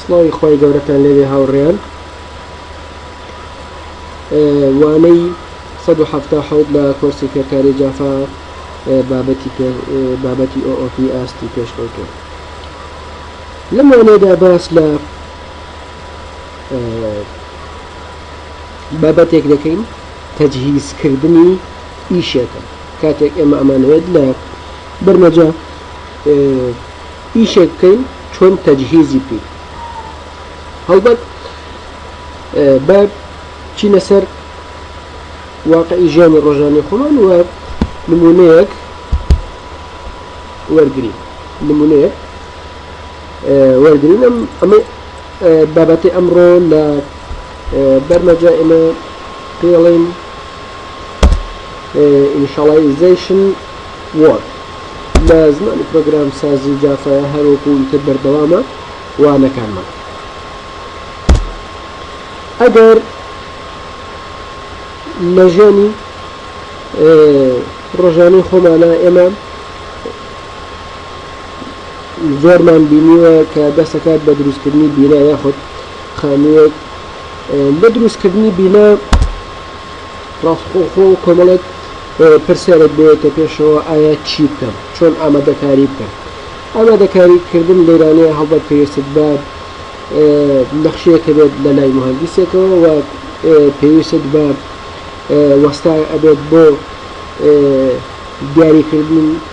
سڵاوی خۆی گەورەتان لەوێ هاوڕێیان وانەی 1970 لە کۆرسی فێرکاری جافا بابەتی بابەتی ئۆپی ئاستی پێشکەوتوە لەم وانەیەدا باس لە بابەتێک دەکەین تەجهیزکردنی ئیشێکە کاتێک ئێمە ئەمانەوێت لە بەرمەجە ئیشێک بکەین چۆن تەجهیزی بکەین هەڵبەت بە چینە سەر واقعی ژیانی ڕۆژانی خۆمان وە نمونەیەک وەرگری نمونەیە وەرگین ئەم ئەمە بابەتی ئەمڕۆ لە بەرمەجە ئێمە پێڵین ئینشاڵایزیشن وۆرد لە زمانی پرۆگرام سازی جافایا هەروەکو تر بەردەوامە وانەکانمان ئەگەر لە ژیانی ڕۆژانەی خۆمانە ئێمە زۆرمان بینیوە کە دەستەکات بە دروستکردنی بینا یاخود خانوویەک لە دروستکردنی بینا ڕاستخۆخۆ کۆمەڵێک پرسیارێک بێتە پێشەوە ئایا چی بکەم چۆن ئامادەکاری بکەم ئامادەکاریکردن لەیرانەیە هەڵبەت پێویستت بە نەخشیەکە بێت لە لای مهندسێکەوە و پێویست بە وەستا ئەبێت بۆ دیاریکردن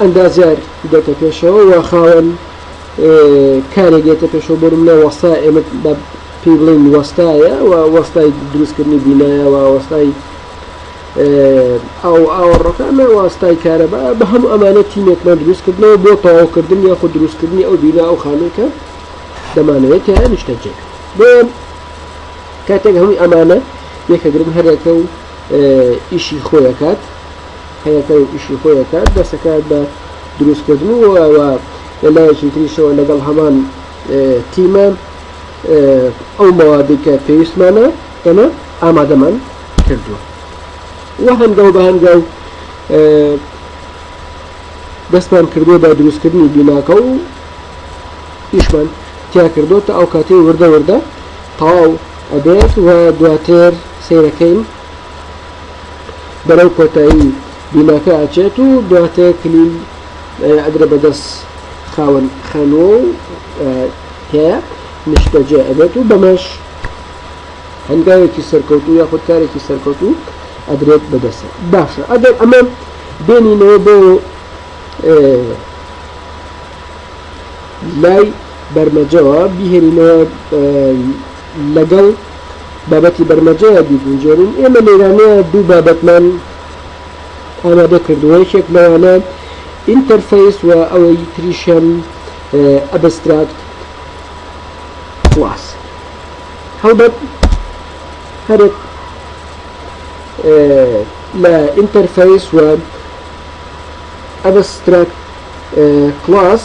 ئەندازیار دێتە پێشەوە و خاوەن کارێک دێتە پێشەوە بۆ منە وەستا ئێمە بە پێی بڵین وەستایە و وەستای دروستکردنی بینایە و وەستای ئەو ئاوەڕەکانە وەستای کارەبا بە هەموو ئەمانە تیمێکمان دروستکردنەوە بۆ تەواوکردن یاخود دروستکردنی ئەو بینا ئەو خانێکە دەمانەوێت تیان نیشتەجێک بۆ کاتێک هەمووی ئەمانە یەکەگرن هەرەکە و ئیشی خۆیەکات هەیەکە و ئیشی خۆی ئەکات دەست ئەکات بە دروست کردن و و لە لایەکی تریشەوە لەگەڵ هەمان تیمە ئەو مەوادی کە پێویستمانە ئێمە ئامادەمان کردووە و هەنگاو بە هەنگاو دەستمان کردووە بە دروستکردنی بیناکە و ئیشمان تیا کردو تا ئەو کاتی وردە وردە تەواو ئەبێت و دواتر سیرەکەین بەرەو کۆتایی بیناکە ئەچێت و دواتە کلیل ئەدرە بەدەست خاوەن خانوە و هەیە نیشتەجێ ئەبێت و بەمەش هەنگاوێکی سەرکەوت و یاخود کارێکی سەرکەوت و ئەدرێت بەدەست باشە ئەگەر ئەمە بێنینەوە بۆ لای بەرمەجەوە بهێنینەوە لەگەڵ بابەتی بەرمەجەیا بیگونجێنین، ئێمە لێرانەیا دوو بابەتمان ئامادە کردووە، یەکێک لەوانە ئینتەرفەیس و ئەوەی تریشیان ئەبستراکت کڵاس. هەڵبەت هەرێک لە ئینتەرفەیس و ئەبستراکت کڵاس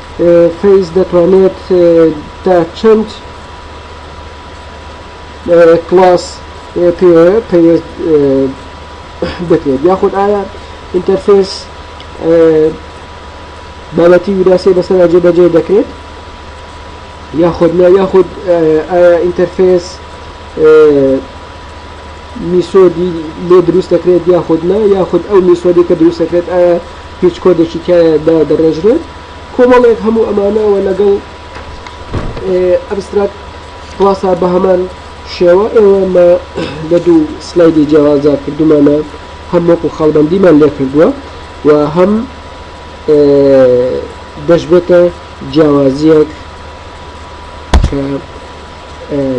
فەیس دەتوانێت تا چەند کلاس پەیوەست بکرێت یاخود ئایا ئینتەرفێس بابەتی وراسی بەسەر جێبەجێ دەکرێت یاخود نا یاخود ئایا ئینتەرفێس میسۆدی لێ دروست دەکرێت یاخود نا یاخود ئەو میسۆدی کە دروست دەکرێت ئایا هیچ کۆدێکی تیایا دادەڕێژرێت کۆمەڵێک هەموو ئەمانە و لەگەڵ ئەبستراکت کلاسا بە هەمان شێوە ئێوە مە لە دوو سلایدی جیاوازدا کردومانە هەم وەکو خەڵبندیمان لێ کردووە و هەم دەشبێتە جیاوازیەک کە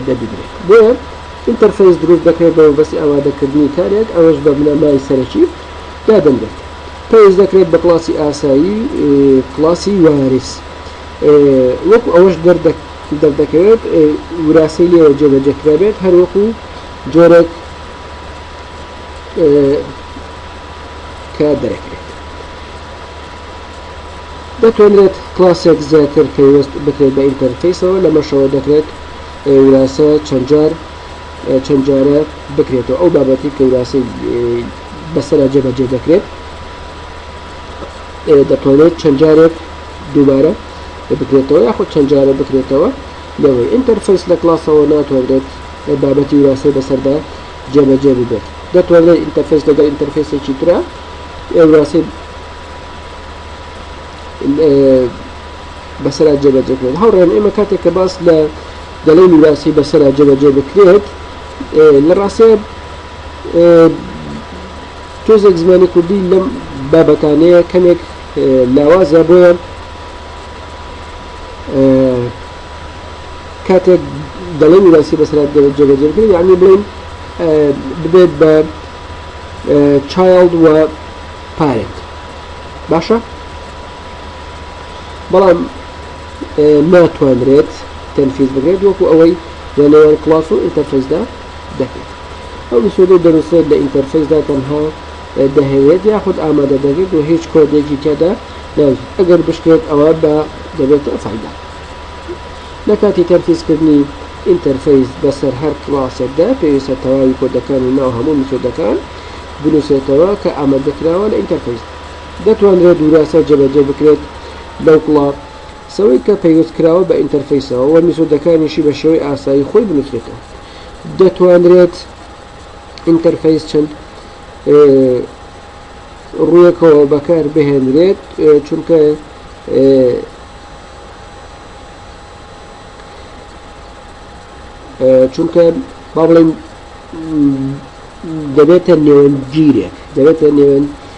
دەبیدرێت بۆیە ئینتەرفەیس دروست دەکرێت بە بەسی ئاوادەکردنی کارێک ئەوەش بە بنەمای سەرەکی دادەنرێت پێویست دەکرێت بە کلاسی ئاسایی کلاسی وارس وەکو ئەوەش دەردەکەوێت وراسی لێوە جێبەجەکرابێت هەروەکو جۆرێک کە دەرەکرێت دەتوانرێت کلاسێک زیاتر پێویست بکرێت بە ئینتەرفیسەوە لەمەشەوە دەکرێت وراستە چەندجار چەند جارە بکرێتەوە ئەو بابەتی کەوراسی بەسرە جێبەجێ دەکرێت دەتوانێت چەند جارێک دووبارە بکرێتەوە یاخود چەند جارە بکرێتەوە لەوەی ئینتەرفیس لە کلاسەوە ناتوانرێت بابەتی وراسی بەسەردا جێبەجێ ببێت دەتوانێت ئینتەرفیس لەگەڵ ئینتەرفیسێکی تررا ئێوراسی بەسرا جێبەجێکرێت هەوڕێن ئێمە کاتێک کە باس لە دەڵێی میراسی بەسەرا جێبەجێ بکرێت لە ڕاستەیە تۆزێک زمانی کوردی لەم بابەتانەیە کەمێک لاوازە بۆیە کاتێک دەڵێ میراسی بەسرات جێبەجێکرد یعنی بڵین ببێت بە چایلد و پارێت باشە بەڵام ناتوانرێت تەنفیز بکرێت وەکو ئەوەی لە نێوان کلاس و ئینتەرفیسدا دەکرێت ئەو ئیسۆدەی دەنووسێت لە ئینتەرفیسدا تەنها دەهەوێت یاخود ئامادە دەکرێت و هیچ کۆدێکی تێدا ناوزیت ئەگەر بشکێت ئەوە بە دەبێتە فایدا لە کاتی تەنفیزکردنی ئینتەرفیس بەسەر هەر کلاسێکدا پێویستە تەواوی کۆدەکانی ناو هەموو میسۆدەکان بنووسێتەوە کە ئامادەکراوە لە ئینتەرفیس دەتوانرێت وراستە جێبەجێ بکرێت لەو کڵە سەوەی کە پەیوەست کراوە بە ئینتەرفەیسەوە وە میسۆدەکانیشی بە شێوەی ئاسایی خۆی بنوسرێتەوە دەتوانرێت ئینتەرفەیس چەند ڕویەکەوە بەکار بهێنرێت چونکە چونکە با بڵێن دەبێتە نێوەندگیرێک دەبێتە نێوەند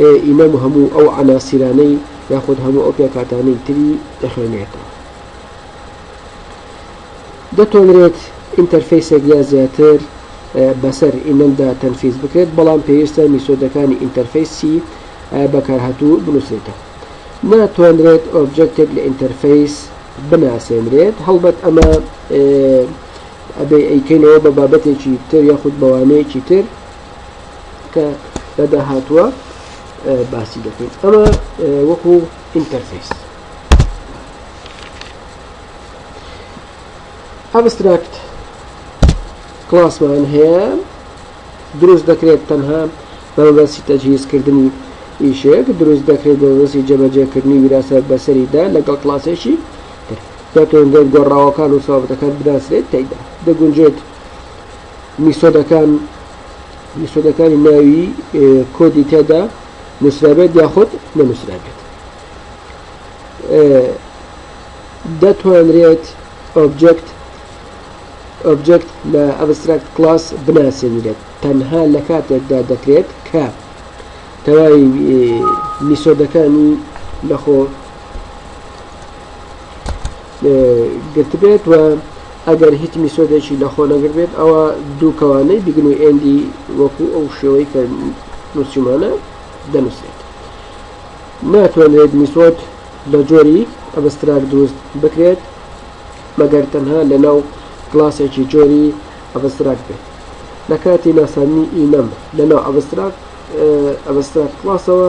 ئێ ئیمام هەموو ئەو عەناسیرانەی یاخود هەموو ئەو پێکهاتانەی تری دەخوێنێتەوە. دەتوانرێت ئینتەرفەیسێک یا زیاتر بەسەر ئیمەمدا تەنفیز بکرێت بەڵام پێویستە میسۆدەکانی ئینتەرفەیسی بەکارهاتوو بنووسرێتەوە. ناتوانرێت ئۆبجەکتێک لە ئینتەرفەیس بناسێنرێت هەڵبەت ئەمە ئەبێ ئەیکەینەوە بە بابەتێکی تر یاخود بەوانەیەکی تر کە لە داهاتووە باسی دەکەین ئەمە وەکو ئینتەرفیس ئەبستراکت کلاسمان هەیە دروست دەکرێت تەنها بەمەبەستی تەجهیزکردنی ئیشێک دروست دەکرێت بەمەبەستی جەبەجێکردنی ویراسە بەسەریدا لەگەڵ کلاسێکی دەتوانرێت گۆڕاوەکان و سابەتەکان بناسرێت تێدا دەگونجێت میسۆدەکان میسۆدەکانی ناوی کۆدی تێدا نووسرابێت یاخود نەنووسرابێت دەتوانرێت ئۆبجکت ئۆبجکت لە ئەبستراکت کلاس بناسێنرێت تەنها لە کاتێکدا دەکرێت کە تەواوی میسۆدەکانی لەخۆ گرتبێت و ئەگەر هیچ میسۆدێکی لەخۆ نەگربێت ئەوە دوو کەوانەی بیگن و ئێندی وەکو ئەو شێوەی کە نووسیمانە دەنووسێت ناتوانرێت میسۆد لە جۆری ئەبستراک دروست بکرێت مەگەر تەنها لەناو کلاسێکی جۆری ئەبستراک بێت لە کاتی ناسانی ئینەم لەناو ئەبستراک ئەبستراک کلاسەوە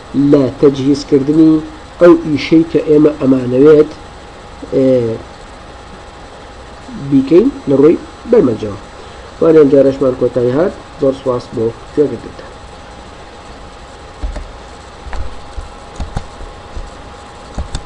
لە تەجهیز کردنی ئەو ئیشەی کە ئێمە ئەمانەوێت بیکەین لە ڕووی بەرمەجەوە وان ئەمجارەشمان کۆتایی هات زۆر سواس بۆ گوێگرتنتان